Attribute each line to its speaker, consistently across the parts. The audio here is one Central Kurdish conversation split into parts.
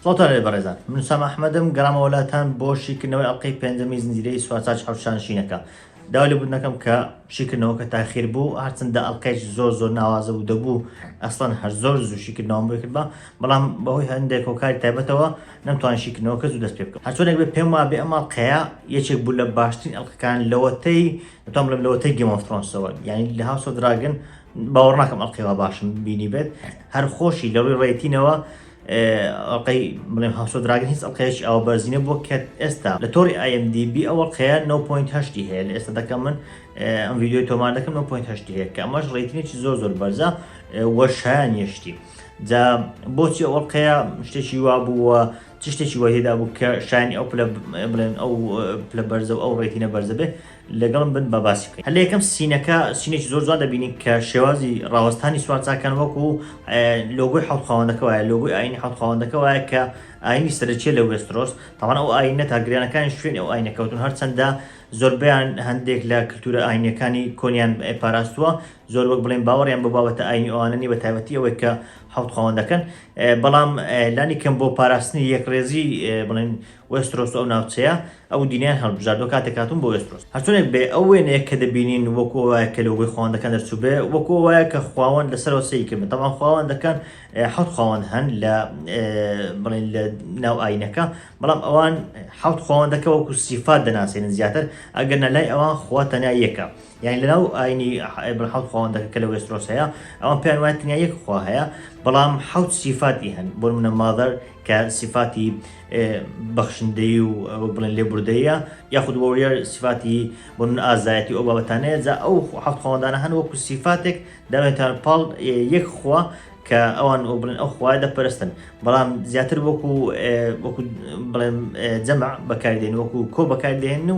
Speaker 1: سڵاوتان لێبێت بەڕێزان، من ئوسامە ئەحمەدم، گەڕامەوە لاتان بۆ شیکردنەوەی ئەڵقەی پێنجەمی زنجیرەی سوارچاچ حەوشانشینەکە. داوای لێبوردن ئەکەم کە شیکردنەوەکە تاخیر بوو، هەرچەندە ئەڵقەیەکی زۆر زۆر ناوازە بوو، دەبوو ئەسڵەن هەر زۆر زوو شیکردنەوەم بۆی کردبا، بەڵام بەهۆی هەندێک هۆکاری تایبەتەوە نەمتوانی شیکردنەوەکە زوو دەست پێ بکەم هەرچۆنێک بێ پێم وابێ ئەم ئەڵقەیە یەکێک بوو لە باشترین ئەڵلقەکان لەوەتەی دەتوام لەم لەوەتەی گەمەفرۆنسەوە یعنی لە هاوسە دراگن باوەڕ ناکەم ئەڵلقەوە باشم بینی بێت هەر خۆشی لە ڕووی ڕێتینەوە ئەڵلقەی بڵێم هاوسە دراگن هیچ ئەڵلقەیەکی ئەو بەرزینە بۆ کە ئێستا لە تۆری ئایMDB ئەوە قەیە 9.8 هەیە لە ئێستا دەکەم من ئەم ویددیوی تۆمان دەکەم 9.8 هەیە کە ئەمەش ڕێتینێکی زۆر زۆر بەرزە وەشیان یشتی جا بۆچی ئەو ئەڵلقەیە شتێکی وا بوو و چ شتێکی وای تێدا بوو کە شایانی ئەو پلە بڵێن ئەو پلە بەرزە و ئەو ڕێتینە بەرزە بێ لەگەڵم بن بە باسی بکەین هەر لە یەکەم سینەکە سینێکی زۆر جوان دەبینین کە شێوازی ڕاوەستانی سوارچاکان وەکو لۆگۆی حەوت خاوەندەکە وایە لۆگۆی ئاینی حەوت خاوەندەکە وایە کە ئاینی سەرچیە لە وێسترۆس تاوان ئەو ئاینە تاگریانەکانی شوێن ئەو ئاینەکەوتون هەرچەندە زۆربیان هەندێک لە کللتورە ئاینەکانی کۆنیان پاراستووە زۆر وەک بڵێن باوەڕیان بە بابەتە ئاینی ئەوانە نی بە تایبەتی ئەوەی کە حوت خواوەندەکەن بەڵام لانی کەم بۆ پاراستنی یەکڕێزی بڵێن وسترۆس ئەو ناوچەیە ئەو دینیان هەڵبژاردۆ کاتێک هاتون بۆ وسترۆس هەرچونێک بێ ئەو وێنەیە کە دەبینین وەکو وایە کە لەوەی خواوەندەکان دەرچوو بێ وەکو وایە کە خواوەند لەسەرەوە سەی کرد بەتەمان خواوەندەکان حوت خواوەند هەن لە بڵێن لە ناو ئاینەکە بەڵام ئەوان حوت خواوەندەکە وەکو سیفات دەناسێنن زیاتر ئەگەر نەلای ئەوان خوا تەنیا یەکە یانی لەناو ئاینی ئەبن حەوت خواوەندەکە کە لە وێسترۆس هەیە ئەوان پێیان وایە تەنیا یەک خوا هەیە بەڵام حەوت سیفاتی هەن بۆ منە مادەر کە سیفاتی بەخشندەی و بڵێن لێبوردەیە یاخود وەوریار سیفاتی بۆ من ئازایەتی ئەو بابەتانەیە جا ئەو حەوت خواوەندانە هەن وەکو سیفاتێک داوێتان پاڵ یەک خوا کە ئەوان ئەو بڵێن ئەو خوای دەپەرستن بەڵام زیاتر وەکو وەکو بڵێن جەمع بەکاردێن وەکو کۆ بەکاردێن و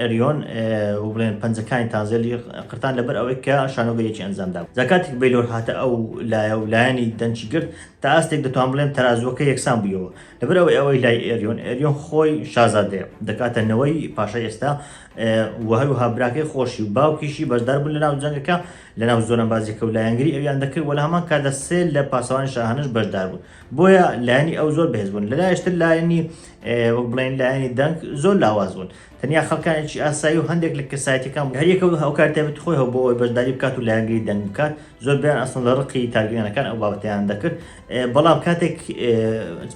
Speaker 1: ئەریۆن، و بڵێن پەنجەکانی تانزێلی قرتان لەبەر ئەوەی کە شانۆگەریەکی ئەنجام دا. جا کاتێک بەیلۆر هاتە ئەو لایە و لایەنی دەنکی گرت، تا ئاستێک دەتوان بڵێم تەرازووەکە یەکسان بوویەوە. لەبەر ئەوەی ئەوەی لای ئەریۆن، ئەریۆن خۆی شازادەیە، دەکاتە نەوەی پاشای ئێستا، و هەروەها براکەی خۆشی و باوکیشی بەشدار بوون لەناو جەنگەکە، لەناو زۆرەمبازیەکە و لایەنگری ئەویان دەکرد، وە لە هەمان کاتدا سێ لە پاسەوانی شاهانەش بەشدار بوون. بۆیە لایەنی ئەو زۆر بەهێز بوون لەلایشتر لایەنی وەک بڵێن لایەنی دەنگ زۆر لاواز بوون تەنیا خەڵکانێکی ئاسایی و هەندێک لە کەسایەتەکان هەریەکە و هاوکارتێبێت خۆی هەو بۆ ئەوی بەشداری بکات و لایەنگری دەنگ بکات زۆر بیان ئەسن لە ڕقی تارگەیانەکان ئەو بابەتیان دەکرد بەڵام کاتێک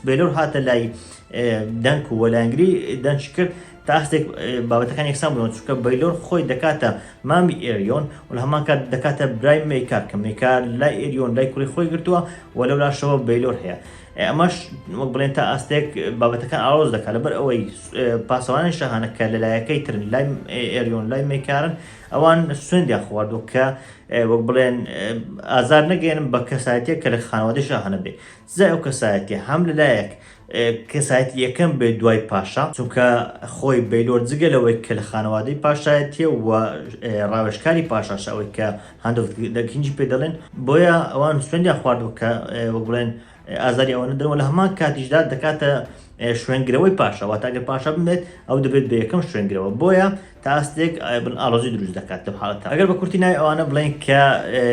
Speaker 1: بێلۆر هاتە لای دەنگ و وەلایەنگری دەنج کرد تا هەستێک بابەتەکان یەکسان بنەوە چونکە بەیلۆر خۆی دەکاتە مامی ئێریۆن و لە هەمان کات دەکاتە برای مەیکار کە مەیکار لای ئێریۆن لای کوڕی خۆی گرتووە و لەو لاشەوە بەیلۆر هەیە ئەمەش وەک بڵێن تا ئاستێک بابەتەکان ئاڵۆز دەکات لەبەر ئەوەی پاسەوانانی شەهانە کە لەلایەکەی ترن لای ئێریۆن لای مەیکارن ئەوان سوێندیان خواردوە کە وەک بڵێن ئازار نەگەێنم بە کەسایەتە کە لە خانەوادە شەهانە بێ زای ئەو کەسایەتە هەم لەلایەک کەسایەتی یەکەم بێت دوای پاشا، چونکە خۆی بەیلۆر جگە لەوەی کە لە خانەوادەی پاشایەتیە و ڕاوێژکاری پاشاشە ئەوەی کە هاند ئۆف دە کینگی پێ دەڵێن، بۆیە ئەوان سوێندیان خواردووە کە وەک بڵێن ئازاری ئەوە نەدەن و لە هەمان کاتیشدا دەکاتە شوێنگرەوەی پاشا، واتە ئەگەر پاشا بمرێت ئەو دەبێت بە یەکەم شوێنگرەوە، بۆیە تاستێک ئایبن ئاڵۆزی دروست دەکات لەم حاڵەتە ئەگەر بە کورتی ناوی ئەوانە بڵێین کە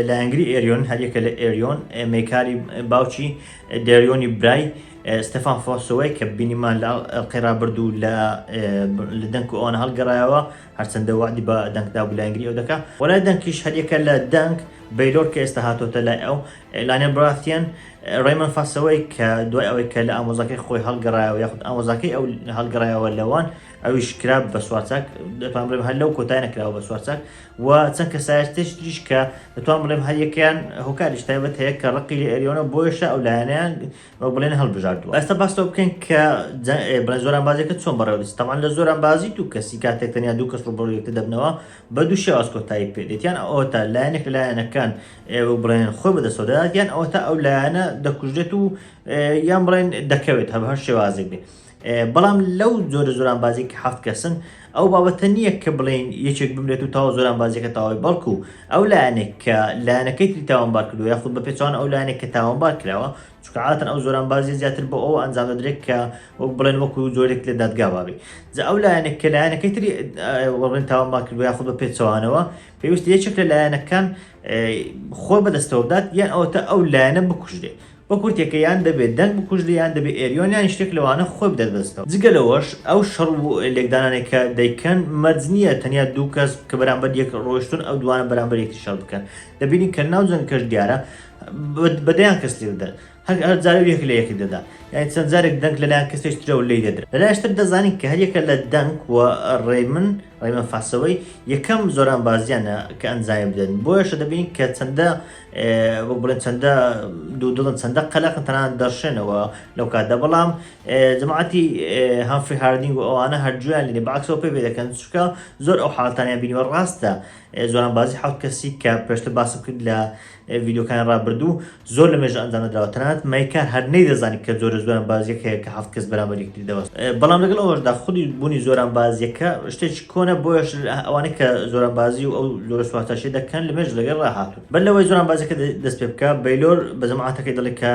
Speaker 1: لایەنگری ئێریۆن هەریەکە لە ئێریۆن مێکاری باوچی دێریۆنی برای ستەفان فۆسەوەی کە بینیمان لە قێرابرد و لە لە دەنگ و ئەوان هەڵگەڕایەوە هەرچەندە وادی بە دەنگدا و لایەنگری ئەو دەکە وەلای دەنگیش هەریەکە لە دەنگ بەیلۆر کە ئێستا هاتۆتە لای ئەو لانێ براتیان ڕێمن فاسەوەی کە دوای ئەوەی کە لە ئامۆزاکەی خۆی هەڵگەڕایەوە یاخود ئامۆزاکەی ئەو هەڵگەڕایەوە لەوان ئەویش کرا بە سوارچاک دەتوان بڵێم هەر لەو کۆتای نەکراوە بە سوارچاک و چەند کە سایشتش تریش کە دەتوان بڵێم هەر یەکیان هۆکاریش تایبەت هەیە کە ڕقی لە ئەریۆنە بۆیشە ئەو لایەنیان وەک بڵێن هەڵبژاردووە ئەستا باستەوە بکەین کە بڵێن زۆران بازەکە چۆن بەڕێوەدەست تەمان لە زۆران بازی دوو کەسی کاتێک تەنیا دوو کەس ڕوبڕ یەکتر دەبنەوە بە دوو شێواز کۆتایی پێدێتیان ئەوە تا لایەنێک لە لایەنەکان ئێوە بڵێن خۆ بەدەستەوە دەداتیان ئەوە تا ئەو لایەنە دەکوژێت و یان بڵێن دەکەوێت هەر هەر شێوازێک بێت بەڵام لەو جۆرە زۆرانبازی کە حەفت کەسن ئەو بابەتە نییە کە بڵێن یەکێک بمرێت و تاوە زۆرانبازیەکە تاوای بەڵکو ئەو لایەنێک کە لایەنەکەی تری تاوانبار کردو یاخود بە پێچوان ئەو لایەنێک کە تاوانبار کراوە چکعاتن ئەو زۆرانبازی زیاتر بۆ ئەو ئەنجام دەدرێت کە وەک بڵێن وەکو جۆرێک لە دادگا بابێ جا ئەو لایەنێک کە لایەنەکەی تری وەڵێن تاوانبار کردو یاخود بە پێچوانەوە پێویست یەکێک لە لایەنەکان خۆ بەدەستەوە بدات یان ئەوەتە ئەو لایەنە بکوژێت بە کورتێکە یان دەبێ دەنگ بکوژرێ یان دەبێ ئێریۆن یان شتێک لەوانە خۆی بدات بە زستەوە. جگە لەوەش ئەو شەڕ و لێکدانانەی کە دەیکەن مەرج نییە تەنیا دوو کەس کە بەرامبەر یەک ڕۆیشتوون ئەو دووانە بەرامبەر یەکتری شەڕ بکەن. دەبینین کە ناو جەنگەکەش دیارە بە دەیان کەس لێ دەدەن. هەر هەر جارە یەک لە یەک دەدا. یانی چەند جارێک دەنگ لە لایەن کەسێک ترەوە لێی دەدرا. لە لایەش تر دەزانین کە هەر یەکە لە دەنگ و ڕەیمن، ڕەیمن فاسەوەی، یەکەم زۆرانبازییانە کە ئەنجامی بدەن. بۆیەشە دەبینین کە چەندە وەک بڵێن چەندە دوودڵن چەندە قەلەقن تەنان دەرشێنەوە لەو کاتدا بەڵام جماعتی هەفری هاردنگ و ئەوانە هەرجویان لێ باکسەوە پێ دەکەن چکە زۆر ئەو حالتانیان بینیوە ڕاستە زۆران بازی حوت کەسی کە پێشتە باسم کرد لە ڤیددیوکان ڕابردوو زۆر لە مێژە ئەنجام دراوە تەنات مەیکار هەر نەی دەزانانی کە زۆرە زۆران بازیەکەیە کە هەفت کەس بەرامەریکتیدەوە بەڵام لەگەڵ ئەوەشدا خودی بوونی زۆران بازیەکە شتێک کۆنە بۆیەش ئەوانەی کە زۆرانبازی و ئەو جۆرە سوارتاشی دەکەن لە مێژ لەگەڵ ڕاهاتوون بەر لەوەی زۆرانبازەکە دەست پێ بکە بەیلۆر بە جەماعەتەکەی دەڵێ کە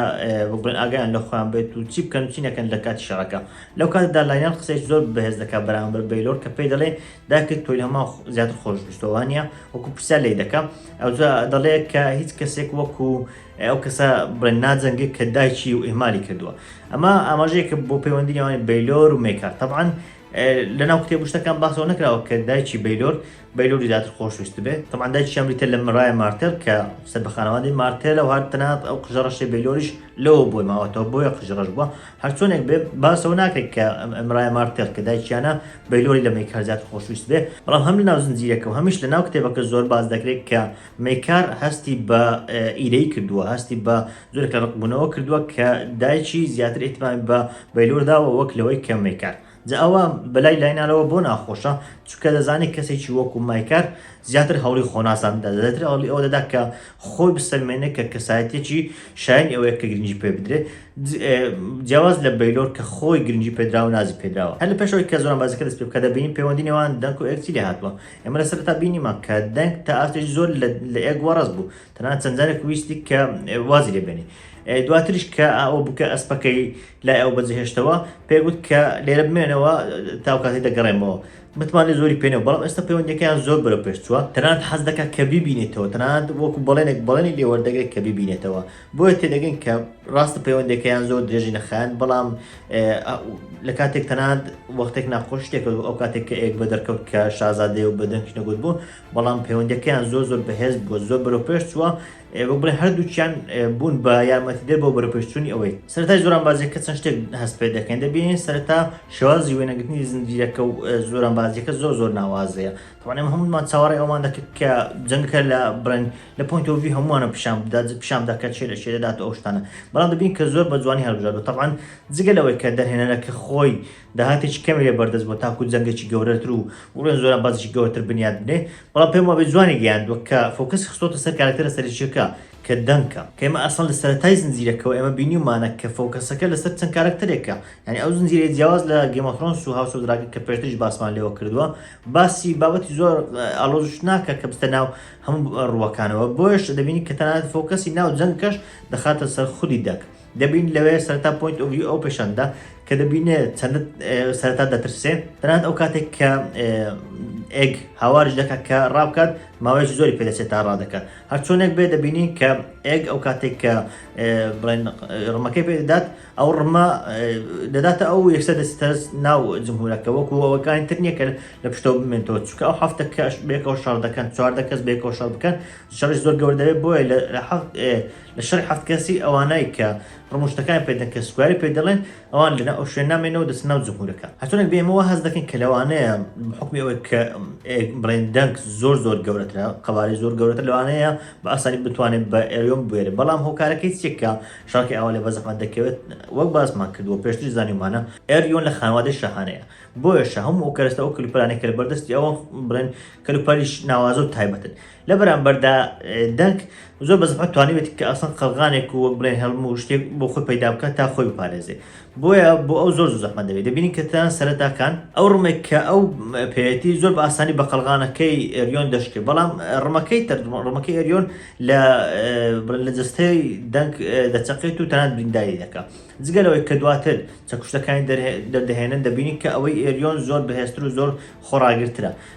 Speaker 1: بڵێن ئاگایان لە خۆیان بێت و چی بکەن و چی نەکەن لە کاتی شەڕەکە لەو کاتدا لاینیان قسەیەکی زۆر بەهێز دەکات بەرامبەر بەیلۆر کە پێی دەڵێ داکت تۆی هەمان زیاتر خۆشویستەوە وا نییە وەکو پرسیار لێی دەکا ئەوجا دەڵێ کە هیچ کەسێک وەکو ئەو کەسە بڵێن ناجەنگێک کە دایکی و ئیمالی کردووە ئەمە ئاماژەیەکە بۆ پەیوەندی نێوانی بەیلۆر و مێکار تەبعاان لەناو کتێب و شتەکان باسەوە نەکراوە کە دایکی بەیلۆر بەیلۆری زیاتر خۆشویست بێت تەمان دایکی ئەمریتە لە مەرای مارتێل کە سەر بە خانەوادەی مارتێلە و هەر تەنات ئەو قژەڕەشی بەیلۆریش لەوە بۆی ماوەتەوە بۆیە قژڕەش بووە هەرچۆنێک بێ باسەوە ناکرێت کە ئەمرای مارتێل کە دایکیانە بەیلۆری لە مەیکار زیاتر خۆشویست بێ بەڵام هەم لە ناو زنجیرەکە و هەمیش لە ناو کتێبەکە زۆر باز دەکرێت کە مەیکار هەستی بە ئیرەی کردووە هەستی بە زۆرێکە ڕقبوونەوە کردووە کە دایکی زیاتر ئیهتمامی بە بەیلۆر داوە وەک لەوەی کە مەیکار جا ئەوە بەلای لاینالەوە بۆ ناخۆشە چونکە دەزانێت کەسێکی وەکو مایکار زیاتر هەوڵی خۆناسان دەدا زیاتر هەوڵی ئەوە دەدا کە خۆی بسەلمێنێت کە کەسایەتێکی شایانی ئەوەیە کە گرنگی پێ بدرێت جیاواز لە بەیلۆر کە خۆی گرنگی پێدراوە نازی پێدراوە هەر لە پێشەوەی کە زۆران بازەکە دەست پێ بکە دەبینین پەیوەندی نێوان دەنک و ئێکسی لێ هاتووە ئێمە لە سەرتا بینیمان کە دەنگ تا ئاستێکی زۆر لە ئێک وەڕەز بوو تەنها چەند جارێک ویستی کە وازی لێ بێنی دواتریش کە ئەو بکە ئەسپەکەی لای ئەو بەجهێشتەوە پێگوت کە لێرە بمێنەوە تاوکاتی دەگەڕێمەوە متمانێ زۆری پێێنەوە بەڵام ئێستا پەیوەندەکەیان زۆر بەرە پێش چووە تەنانەت حەز دەکە کە بیبینێتەوە تەنانەت وەکو بەڵێنێک بەڵێنی لێوەردەگرێت کە بیبینێتەوە بۆیە تێدەگەن کە ڕاستە پەیوەندەکەیان زۆر درێژی نەخایەن بەڵام لە کاتێک تەنانەت وەختێک ناخۆشتێکەوە ئەو کاتێک کە ئێک بە دەرکەوت کە شازادەیە و بەدەنگ نەگوت بوو بەڵام پەیوەندیەکەیان زۆر زۆر بەهێز بووە زۆر بەرەو پێش چووە وەک بڵێ هەردووچیان بوون بە یارمەتیدەر بۆ بەرەپێشچوونی ئەوەی سەرتای زۆران بازیەکە چەند شتێک هەست پێ دەکەین دەبینین سەرتا شێوازی وێنەگرتنی زنجیرەکە و زۆران بازیەکە زۆر زۆر ناوازەیە تەوانێم هەمومان چاوەڕێ ئەومان دەکرد کە جەنگەکە لە بڵێن لە پوینتۆڤی هەمووانە پیشان بدات پیشان بدات کە چێ لە شێ دەدات ئەو شتانە بەڵام دەبین کە زۆر بە جوانی هەڵبژاردو تەوان جگە لەوەی کە دەرهێنەرەکە خۆی داهاتێکی کەمی لێ بەردەست بووە تاکوو جەنگێکی گەورەتر و بڵێن زۆرە بازێکی گەورەتر بنیات بنێ، بەڵام پێم وابێ جوانی گەیاندووە کە فۆکەسی خستۆتە سەر کارەکتەرە سەرەکییەکە کە دەنکە، کە ئێمە ئەسڵەن لە سەرەتای زنجیرەکەوە ئێمە بینیومانە کە فۆکەسەکە لەسەر چەند کارەکتەرێکە، یانی ئەو زنجیرەیە جیاواز لە گەیم ئۆف ثرۆنس و هاوس ئۆف دراگن کە پێشتریش باسمان لێوە کردووە باسی بابەتی زۆر ئاڵۆزش ناکا کە بچتە ناو هەموو ڕووەکانەوە، بۆیەش دەبینین کە تەنانەت فۆکەسی ناو جەنگەکەش دەخاتە سەر خودی دەک. دەبین لەوێ سەرتا پوینت ئۆڤی ئەو پێشەندە کە دەبینێ چەند سەرتا دەترسێ تەنات ئەو کاتێک کە ئێگ هاوارش دەکات کە ڕابکات ماوەیەکی زۆری پێدەچێت تا ڕادەکات هەرچۆنێک بێ دەبینین کە ئێگ ئەو کاتێک کە بڵێن ڕمەکەی پێدەدات ئەو ڕمە دەداتە ئەو یەکسە دەستەرس ناو جمهورەکە وەکو ئەوەکانی تر نییە کە لە پشتەوە بمێنەوە چکە ئەو هەفتە کەش بێکەوە شار دەکەن چواردە کەس بێکەوە شار بکەن شەڕی زۆر گەوردەوێت بۆیە لە لە شەڕی حەفت کەسی ئەوانەی کە ڕموشتەکان پێ دەن کە سکواری پێ دەڵێن ئەوان لەناو ئەو شوێنە نامێنەوە دەچنە ناو جمهورەکە هەچۆنێک بێ ئێمە وا هەست دەکەین کە لەوانەیە بە حوکمی ئەوەی کە بڵێن دەنگ زۆر زۆر گەورەترە قەبارەی زۆر گەورەتر لەوانەیە بە ئاسانی بتوانێت بە ئێریۆم بوێرێت بەڵام هۆکارەکەی چیە کە شەڕەکەی ئاوا لێ بە زەحمەت دەکەوێت وەک باسمان کردووە پێشتری زانیومانە ئێریۆن لە خانوادەی شاهانەیە بۆیە شە هەموو ئەو کەرەستە ئەو کلوپەلانێک کە لە بەردەستی ئەوە بڵێن کەلوپەلیش ناوازە و تایبەتن لە بەرامبەردا دەنک زۆر بەزەحمەت توانیوێت کە ئەسڵەن قەلغانێک و وەک بڵێ هەڵم و شتێک بۆ خۆی پەیدا بکات تا خۆی بپارێزێ بۆیە بۆ ئەو زۆر زەحمە دەبێت دەبینین کە تان سەرەتاکان ئەو ڕمێک کە ئەو پێەتی زۆر بە ئاسانی بە قەلغانەکەی ئەریۆن دەشکێ بەڵام ڕمەکەی تر ڕمەکەی ئەریۆن لە لە جستەی دەنگ دەچەقێت و تەنان برینداری دەکات جگەلەوەی کە دواتر چەکوشتەکانی دەردەهێنن دەبینین کە ئەوەی ئێریۆن زۆر بەهێستر و زۆر خۆڕاگرترە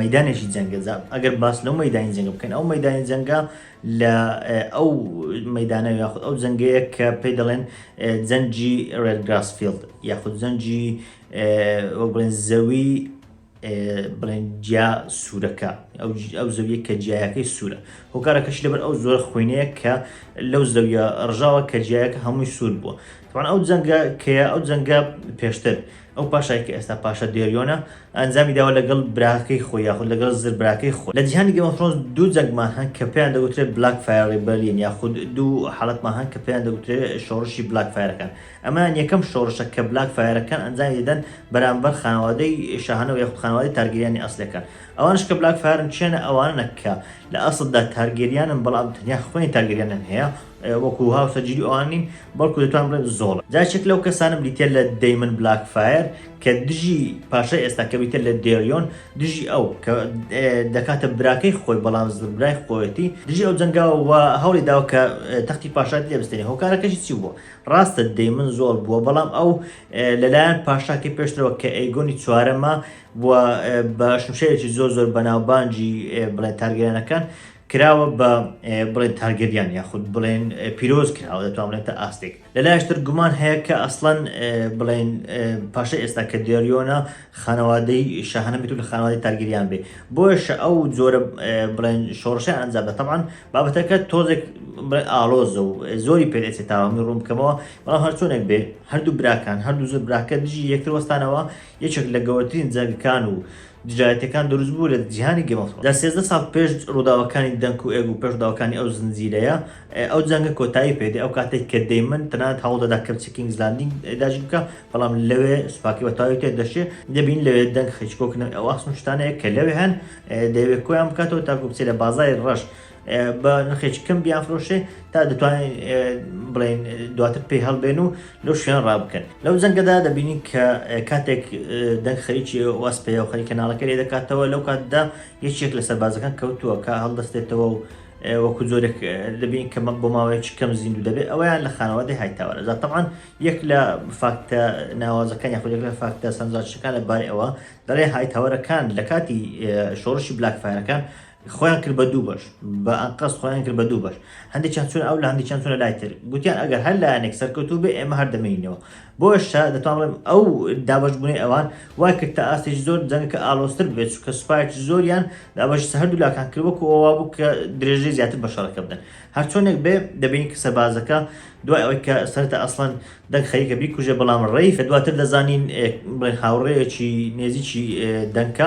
Speaker 1: مەیدانێکی جەنگە جا ئەگەر باس لەو مەدانی جەنگە بکەین ئەو مەدانی جەنگە لە ئەو مەدانە یاخود ئەو جەنگەیە کە پێ دەڵێن جەنجی ڕێد گراسفیلد یاخود جەنجی بڵێن زەوی بڵێن جیا سوورەکە ئەو زەویە کە جیایەکەی سوورە هۆکارەکەش لەبەر ئەو زۆر خوێنەیە کە لەو زەویە ڕژاوە کە جیایەکە هەمووی سوور بووە تەبعەن ئەو جەنگە کەیە ئەو جەنگە پێشتر ئەو پاشای کە ئێستا پاشا دێریۆنە ئەنجامی داوە لەگەڵ براکەی خۆی یاخود لەگەڵ زر براکەی خۆی لە جیهانی گەمە فرۆنس دوو جەنگمان هەن کە پێیان دەگوترێت بلاک فایر ڕیبەلیەن یاخود دوو حاڵەتمان هەن کە پێیان دەگوترێت شۆڕشی بلاک فایرەکان ئەمان یەکەم شۆڕشە کە بلاک فایرەکان ئەنجامی دەدەن بەرامبەر خانەوادەی شاهانە و یاخود خانەوادەی تارگەریانی ئەسلەکان ئەوانش کە بلاک فایرن چێنە ئەوانە کە لە ئەسلدا تارگەریانن بەڵام تەنیا خوێنی تارگەریانن هەیە وەکو هاوسەر جلی ئەوان نیم بەڵکو دەتوان بڵێ زۆڵە جا یەکێک لەو کەسانە بریتیە لە دەیمن بلاک فایر کە دژی پاشای ئێستا کە بریتە لە دێریۆن دژی ئەو کە دەکاتە براکەی خۆی بەڵام برای خۆیەتی دژی ئەو جەنگاوە و هەوڵی داو کە تەختی پاشات لێ بستێنی هۆکارەکەشی چی بووە ڕاستە دەیمن زۆڵ بووە بەڵام ئەو لەلایەن پاشاکەی پێشترەوە کە ئەیگۆنی چوارەمە بووە بە شمشێرێکی زۆر زۆر بەناوبانجی بڵێ تارگەیانەکان کراوە بە بڵێن تارگەریان یاخود بڵێن پیرۆز کراوە دەتوان بڵێن تا ئاستێک لە لایشتر گومان هەیە کە ئەسڵەن بڵێن پاشە ئێستا کە دێریۆنە خانەوادەی شەهانە بێت لە خانەوادی تارگەریان بێ بۆش ئەو زۆرە بڵێن شۆڕشە ئەنجام دە تەبان بابەتەکە تۆزێک ئالۆزە و زۆری پێدەێت تاوامی ڕوون بکەمەوە بەڵام هەرچۆنێک بێ هەردوو براکان هەردوو زۆر براکە دژی یەکتر وەستانەوە یەکێک لە گەورەترین جەنگەکان و دژایەتیەکان دروست بوو لە جیهانی گەیم ئۆف ثرۆنس لە سێزدە ساڵ پێش ڕووداوەکانی دەنک و ئێگ و پێش ڕووداوەکانی ئەو زنجیرەیە ئەو جەنگە کۆتایی پێدێ ئەو کاتێک کە دەیمن تەنانەت هەوڵ دەدا کەپچی کینگز لاندینگ داگیر بکا بەڵام لەوێ سوپاکەی بە تەواوی تێ دەشێ دەبین لەوێ دەنگ هیچکۆک نەوەی ئەو ئاسن و شتانەیە کە لەوێ هەن دەیەوێ کۆیان بکاتەوە تاکو بچێ لە بازاری ڕەش بە نرخێکی کەم بیانفرۆشێ تا دەتوانین بڵێن دواتر پێی هەڵبێن و لەو شوێن ڕابکەن لەو جەنگەدا دەبینین کە کاتێک دەنگ خەریکی واس پێ و خەریکە ناڵەکە لێ دەکاتەوە لەو کاتدا یەکێک لە سەربازەکان کەوتووە کە هەڵدەستێتەوە و وەکو زۆرێک دەبین کە بۆ ماوەیەکی کەم زیندوو دەبێت ئەویان لە خانەوادەی هایتاوەرە زاتەمان یەک لە فاکتە ناوازەکان یاخود لە فاکتە سەنجاشەکان لە بارەی ئەوە دەڵێ هایتاوەرەکان لە کاتی شۆڕشی بلاکفاەکان خۆیان کرد بە دوو بەش بە ئەنقەست خۆیان کرد بە دوو بەش هەندێکیان چون ئەو لە هەندێکیان چونە لای تر گوتیان ئەگەر هەر لایەنێک سەرکەوتوو بێ ئێمە هەر دەمێنینەوە بۆشە دەتوانڵێم ئەو دابشبوونی ئەوان وای کرد تا ئاستێکی زۆر جەنگەکە ئالۆستر بێت چکە سوپایکی زۆریان دابەشی سە هەردوو لاکان کرد وەکو ئەووا بوو کە درێژەی زیاتر بە شەڕەکە بدەن هەرچۆنێک بێ دەبینی کە سەربازەکە دوای ئەوەی کە سەرتە ئەسڵەن دەنگ خەریکە بیکوژێ بەڵام ڕێی کە دواتر دەزانین هاوڕێیەکی نێزیکی دەنکە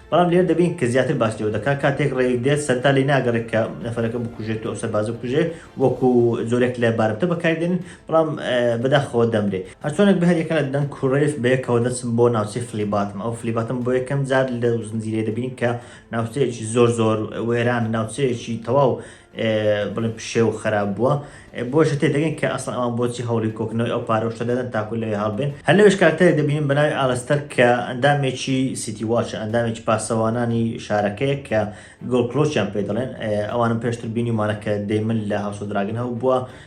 Speaker 1: بەڵام لێرە دەبین کە زیاتر باس لێوە دەکات کاتێک ڕێک دێت سەرتا لی ناگەڕێت کە نەفرەکە بکوژێت و سەربازە بکوژێ وەکو زۆرێک لە بارمتە بەکاردێن بەڵام بەداخەوە دەمرێ هەرچۆنێک بە هەریەکە لە دەنگ کوڕێف بەیەکەوە دەچم بۆ ناوچەی فلیباتم ئەو فلیباتم بۆ یەکەم جار لە زنجیرەیە دەبین کە ناوچەیەکی زۆر زۆر وێران ناوچەیەکی تەواو بڵێن پشێو و خەراب بووە بۆشە تێدەگەن کە ئەسڵ ئەوان بۆچی هەوڵی کۆکنەوەی ئەو پارەشتە دەدەن تاکو لەوێ هەڵبێن هەر لەوێش کارکتەرێک دەبینین بەناوی ئالستەر کە ئەندامێکی سیتی واچە ئەندامێکی پاسەوانانی شارەکەیە کە گۆڵ کلۆچیان پێ دەڵێن ئەوانم پێشتر بینیمانە کە دەیمن لە هاوسۆ دراگن هەوبووە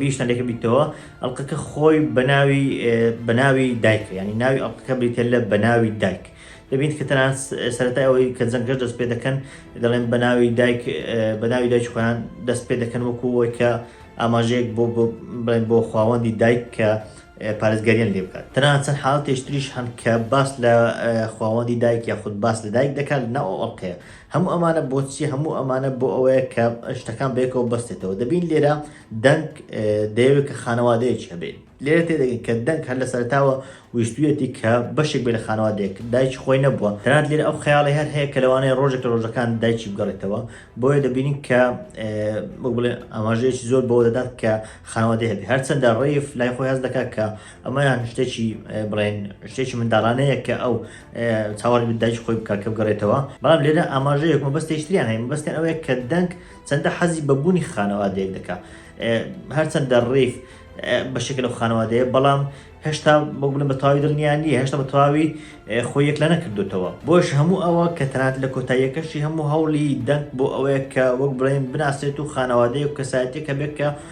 Speaker 1: بیشتان لێکە بیتەوە ئەڵلقەکە خۆی بەناوی بەناوی دایکە ینی ناوی ئەڵلقەکە بریتە لە بەناوی دایک دەبین کە تەنان سەرەتای ئەوەی کە جەنگەش دەست پێ دەکەن دەڵێن بەناوی دایک بەناوی دایک خۆیان دەست پێ دەکەن وەکوەوەی کە ئاماژەیەک بۆ بڵێن بۆ خواوەندی دایک کە پارێزگەریان لێ بکات تەنان چەند حاڵ تێشتریش هەن کە باس لە خواوەندی دایک یاخود باس لە دایک دەکات ناو ئەڵلقەیە هەموو ئەمانە بۆچی هەموو ئەمانە بۆ ئەوەیە کە شتەکان بەیەکەوە بەستێتەوە دەبین لێرە دەنگ دەیەوێت کە خانەوادەیەکی هەبێت لێرە تێدەگەن کە دەنگ هەر لە سەرتاوە ویستویەتی کە بەشێک بێ لە خانەوادێک دایکی خۆی نەبووە تەنات لێر ئەو خەیاڵی هەر هەیە کە لەوانەیە ڕۆژێک لە ڕۆژەکان دایکی بگەڕێتەوە بۆیە دەبینین کە بڵێ ئاماژەیەکی زۆر بەوە دەدات کە خانەوادەیە هەرچەندە ڕیف لای خۆی هەز دەکات کە ئەمەیان شتێکی بڵێن شتێکی منداڵانەیە کە ئەو چاوەڕی بدایش خۆی بکە کە بگەڕێتەوە بەڵام لێرە ئاماژە یەکمە بەستە هیچتریان هەیە بەستێن ئەوەیە کە دەنگ چەندە حەزی بەبوونی خانەوادەیەک دەکا هەرچەندە ڕیف بە شکل لەو خانەوادەیە بەڵام هێشتا بۆ بڵێن بە تەواوی دڵنیا نیە هێشتا بە تەواوی خۆ یەک لە نەکردوتەوە بۆش هەموو ئەوە کە تەنات لە کۆتاییەکەشی هەموو هەوڵی دەنگ بۆ ئەوەیە کە وەک بڵێن بناسێت و خانەوادەیە و کەسایەتێکە بێت کە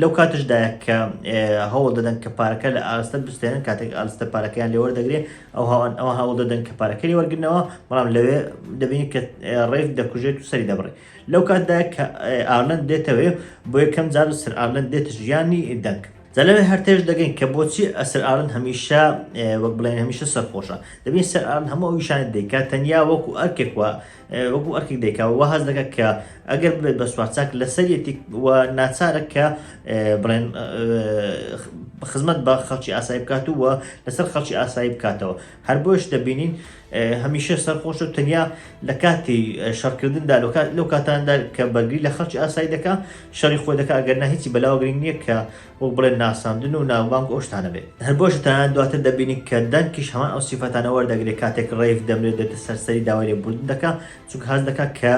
Speaker 1: لەو کاتشدایە کە هەوڵ دەدەن کە پارەکە لە ئاستە بستێنن کاتێک ئالستە پارەکەیان لێوەەر دەگرێ ئەو هاوان ئەو هەوڵ دەدەن کە پارەکەی وەرگنەوە بەڵام لەوێ دەبین کە ڕێف دەکوژێت و سەری دەبڕێ لەو کاتدا کە ئارلند دێتەوێ بۆ یەکەم جار و سەر ئارلند دێتە ژیانی دەنگ زەلەوێ هەرتێش دەگەین کە بۆچی ئەسەر ئارن هەمیشە وەک بڵێن هەمیشە سەرخۆشە دەبین سەر ئارن هەموو ئەو یشانە دەیکات تەنیا وەکو ئەرکێک وە وەکو ئەرکێک دەیکا و هەز دەکە کە ئەگەر بێت بە سوارچاک لەسەر یەتیک و ناچارە کە بڵێن خزمەت بە خەڵکی ئاسایی بکات و لەسەر خەڵکی ئاسایی بکاتەوە هەر بۆش دەبینین هەمیشە سەرخۆش و تەنیا لە کاتی شەڕکردندا لەو کاتاندا کە بەرگری لە خەڵکی ئاسایی دەکە شەڕی خۆی دەکە ئەگەر نە هیچی بەلاوەگرنگ نییە کە وەک بڵێن ناساندن و ناوبانگ و ئەو شتانە بێت. هەر بۆیشە تەنانەت دواتر دەبینین کە دەنکیش هەمان ئەو سیفەتانە وەردەگرێت کاتێک ڕەیف دەمرێت دێتە سەر سەری داوای لێبووردن دەکا چونکە هەست دەکا کە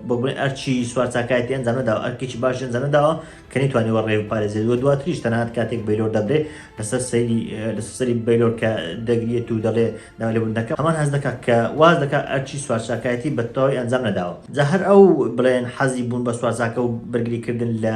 Speaker 1: وەک بڵێن ئەرچی سوار چاکایەتی ئەنجام نەداوە ئەرکێکی باش ئەنجام نەداوە کە نەیتوانیوە ڕێ بپارێزێت و دواتریش تەنانەت کاتێک بەیلۆر دەبرێت لەسەر سەری لەسەر سەری بەیلۆر کە دەگریێت و دەڵێ داوای لێبووردن دەکا هەمان هەست دەکا کە واز دەکا ئەرچی سوار چاکایەتی بەتەواوی ئەنجام نەداوە جا هەر ئەو بڵێن حەزی بوون بە سوار چاکە و بەرگریکردن لە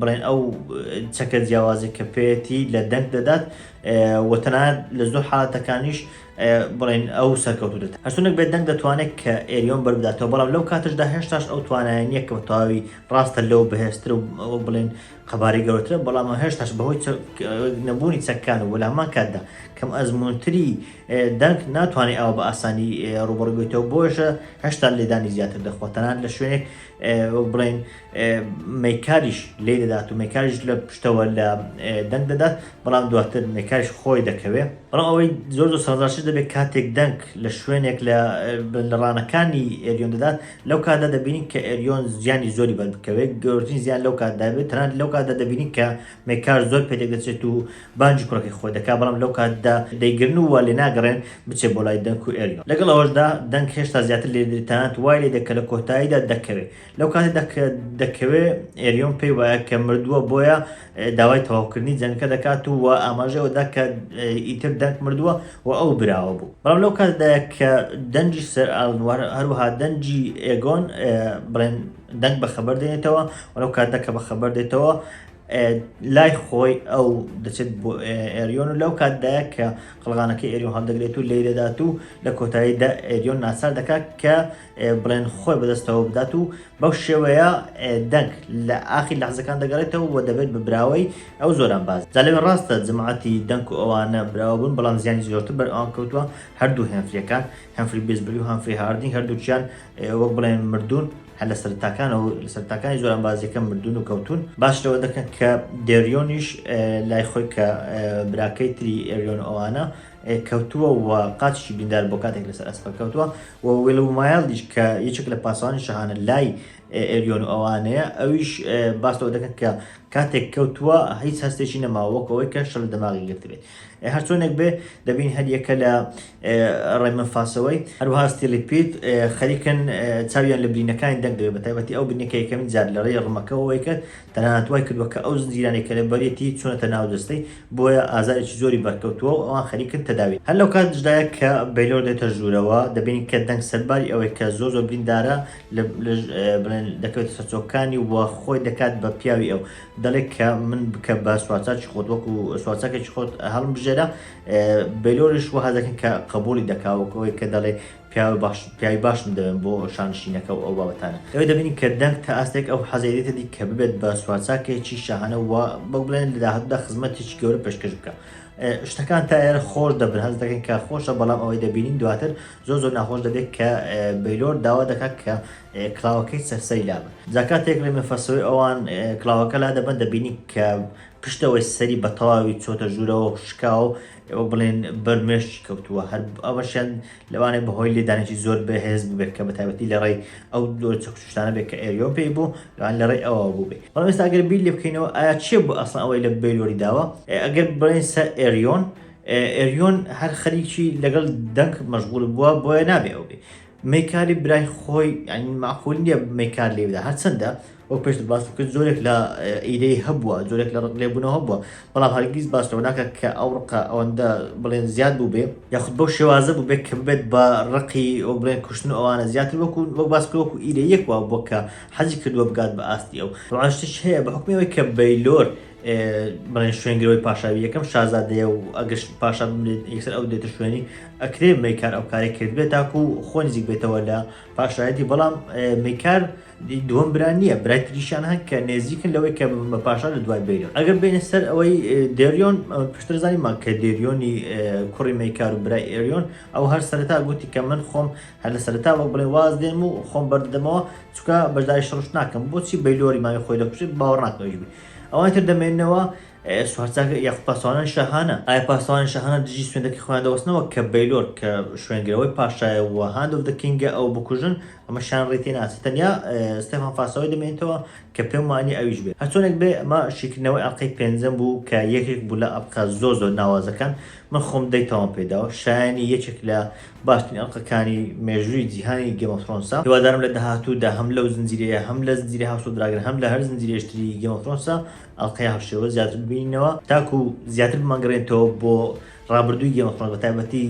Speaker 1: بڵێن ئەو چەکە جیاوازە کە پێەتی لە دەنگ دەدات و تەنانەت لە زۆر حالاتەکانیش بڵێن ئەو سەرکەوتو دێت هەرچونک بێت دەنگ دەتوانێت کە ئێریۆن بەربداتەوە بەڵام لەو کاتشدا هێشتاش ئەو توانایە نییە کە تەواوی ڕاستە لەو بەهێزتر و بڵێن قەبارەی گەورەترە بەڵام هێشتاش بەهۆی نەبوونی چەککان و لەمان کاتدا کەم ئەزمونتری دەنگ ناتوانێت ئەوە بە ئاسانی ڕوبڕبێتەوە بۆشە هەشتا لێدانی زیاتر دەخواتەنان لە شوێنێک وەک بڵێن مەیکاریش لێ دەدات و مەکاریش لە پشتەوە لە دەنگ دەدات بەڵام دواتر مەکاریش خۆی دەکەوێت بەڵام ئەوەی زۆر زۆر سازاش دەبێت کاتێک دەنگ لە شوێنێک لە لەڕانەکانی ئێریۆن دەدات لەو کاتدا دەبینین کە ئێریۆن زیانی زۆری بەربکەوێت گەورترین زیان لەو کاتدا بێت تەنان لەو کاتدا دەبینین کە مەکار زۆر پێدەگەچێت و بانگی کوڕەکەی خۆی دەکات، بەڵام لەو کاتدا دەیگرن و وا لێناگەڕێن بچێت بۆ لای دەنک و ئێلیۆن. لەگەڵ ئەوەشدا دەنک هێشتا زیاتر لێ دەدرێت تەنانەت وای لێ دەکات لە کۆتاییدا دەکەوێت. لەو کاتەدا کە دەکەوێت، ئێلیۆن پێی وایە کە مردووە، بۆیە داوای تەواوکردنی جەنگەکە دەکات و وا ئاماژەی ئەوە دەدات کە ئیتر دەنک مردووە و ئەو براوە بوو. بەڵام لەو کاتەدایە کە دەنگی سەر ئالن و هەروەها دەنگی ئێگۆن بڵێن دەنک بەخەبەر دێنێتەوە و لەو کاتەدا کە بەخەبەر دێتەوە، لای خۆی ئەو دەچێت بۆ ئێریۆن و لەو کاتدایە کە قڵغانەکەی ئێریۆن هەڵدەگرێت و لێی دەدات و لە کۆتاییدا ئێریۆن ناچار دەکات کە بڵێن خۆی بەدەستەوە بدات و بەو شێوەیە دەنگ لە ئاخی لەحزەکان دەگەڕێتەوە و دەبێت بە براوەی ئەو زۆران باز جا لەوێ ڕاستە جەماعەتی دەنک و ئەوانە براوە بوون بەڵام زیانی زۆرتر بەر ئەوان کەوتووە هەردوو هێنفریەکان هەنفری بێزبری و هەنفری هاردینگ هەردووکیان وەک بڵێن مردوون هەر لە سەرەتاکانەوە و لە سەرەتاکانی زۆرانبازییەکە مردوون و کەوتوون، باس لەوە دەکەن کە دێریۆنیش لای خۆی کە براکەی تری ئێریۆن و ئەوانە، کەوتووە و قاچیشی بریندار بووە کاتێک لەسەر ئەسپەکە کەوتووە و ویلومایلدیش کە یەکێک لە پاسەوانی شاهانە لای ئێریۆن و ئەوانەیە، ئەویش باس لەوە دەکەن کە کاتێک کەوتووە هیچ هەستێکی نەماوە وەک ئەوەی کە شەل لە دەماغی گرتبێت. هەرچۆنێک بێ دەبینین هەر یەکە لە ڕێمنفاسەوەی، هەروەها ستیلیپیت، خەریکن چاویان لە برینەکانی دەنگ دەبێت، بەتایبەتی ئەو برینەی کە یەکەمین جار لەڕێی ڕمەکەوە وەیکرد، تەنانەت وایکردووە کە ئەو زنجیرانەی کە لەبەریەتی چوونەتە ناو جەستەی، بۆیە ئازارێکی زۆری بەرکەوتووە و ئەوان خەریکن تەداوی. هەر لەوکاتیشدایە کە بەیلۆر دێتە ژوورەوە، دەبینین کە دەنگ سەرباری ئەوەی کە زۆر زۆر بریندارە، بڵێن دەکەوێتە سەرچۆکەکانی و خۆی دەکات بە پیاوی ئەو، دەڵێت کە من بکە بە سوارچاکی خۆت، وەکو سوارچاکێکی خۆت هەڵمبژێرە، بەیلۆرش وەها دەکەن کە قەبووڵی دەکا وەک ئەوەی کە دەڵێ پیاوی باش پیاوی باشم دەوێن بۆ شانشینەکە و ئەو بابەتانە لەوێ دەبینین کە دەنگ تا ئاستێک ئەو حەزی دێتە دی کە ببێت بە سوارچاکێکی شاهانە و وەک بڵێن لە داهاتوودا خزمەتێکی گەورە پێشکەش بکە شتەکان تا ئێرە خۆش دەبن هەست دەکەن کە خۆشە بەڵام ئەوەی دەبینین دواتر زۆر زۆر ناخۆش دەبێت کە بەیلۆر داوا دەکات کە کلااوەکەی سەرسەری لابن زاکاتێک لە مەفەسەوەی ئەوان کلااوەکە لا دەبن دەبینی کە پشتەوەی سەری بە تەواوی چۆتە ژوورەوە و شکاو ئێوە بڵێن بەر مێشکی کەوتووە هەر ئەوەشیان لەوانێ بەهۆی لێدانێکی زۆر بەهێز بووبێت کە بە تایبەتی لە ڕێی ئەو دۆ چەکوچشتانە بێت کە ئێریۆن پێی بوو لەوان لە ڕێی ئەوە بووبێ بەڵام ئێستا ئەگەر بیر لێ بکەینەوە ئایا چێ بوو ئەسڵ ئەوەی لە بەیلۆری داوە ئەگەر بڵێن سەر ئێریۆن ئێریۆن هەر خەریکی لەگەڵ دەنگ مەشغول بووە بۆیە نابێ ئەو بێ میکالی برای خۆی یعنی ماقول نییە میکال لێ بدا هەرچەندە وەک پێشت باست کرد زۆرێک لە ئیدەی هەبووە زۆرێک لە ڕق لێبوونەوە هەبووە بەڵام هەرگیز باسەوە ناکە کە ئەو ڕقە ئەوەندە بڵێن زیاد بوو بێ یاخود بەو شێوازە بوو بێت کە بێت بە ڕقی ئەو بڵێن کوشتن و ئەوانە زیاتر وەکو وەک باس کرد وەکو ئیدە یەک وا بۆ کە حەزی کردووە بگات بە ئاستی ئەو ڕوانشتش هەیە بە حکومی ئەوەی کە بەیلۆر بڵێن شوێنگرەوەی پاشاوی یەکەم شازادەیە و ئەگەش پاشا بمرێت یەکسەر ئەو دێتە شوێنی ئەکرێ میکار ئەو کارێک کرد بێت تاکو و خۆ نزیک بێتەوە لە پاشایەتی بەڵام میکار دووەم بران نییە برای تریشان هەن کە نێزیکن لەوەی کە بە پاشا لە دوای بیرن ئەگەر بینە سەر ئەوەی دێریۆن پشتر زانیمان کە دێریۆنی کوڕی میکار و برای ئێریۆن ئەو هەر سەرتا گوتی کە من خۆم هەر لە سەرتا وەک بڵێ واز دێم و خۆم بەردەمەوە چکە بەشداری شڕش ناکەم بۆچی بەیلۆری ماوی خۆی دەکوشێت باوەڕ ناکەویش بێت ئەوانی تر دەمێننەوە سوارچاک یاخود پاسەوانانی شاهانە؟ ئایا پاسەوانی شاهانە دژی سوێندەکەی خۆیان دەوەستنەوە کە بەیلۆر کە شوێنگرەوەی پاشایە و هاند ئۆف دە کینگە ئەو بکوژن؟ ئەمەشیان ڕێی تێ ناچێت. تەنیا ستێفان فاسەوای دەمێنێتەوە کە پێم وانییە ئەویش بێت. هەرچۆنێک بێ ئەمە شیکردنەوەی ئەڵقەی پێنجەم بوو کە یەکێک بوو لە ئەڵقە زۆر زۆر ناوازەکان. من خۆم دەی تەواوم پێ داوە. شایەنی یەکێک لە باشترین ئەڵقە کانی مێژووی جیهانی گێمۆف ترۆنسە هیوادارم لە داهاتوو دا هەم لەو زنجیرەیە هەم لە زنجیرەی هاوس ئۆف دراگن هەم لە هەر زنجیرەیش تری گێمۆف ترۆنسە ئەڵقەی هاوشێوە زیاتر ببینەوە تاکو زیاتر بمانگەڕێنتەوە بۆ ڕابردووی گێمۆف ترۆنس بە تایبەتی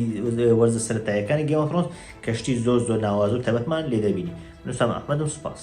Speaker 1: وەرزە سەرەتایەکانی گێمۆف ترۆنس کە شتی زۆر زۆر ناوازە و تایبەتمان لێ دەبینی نووسام ئەحمەدم سوپاس.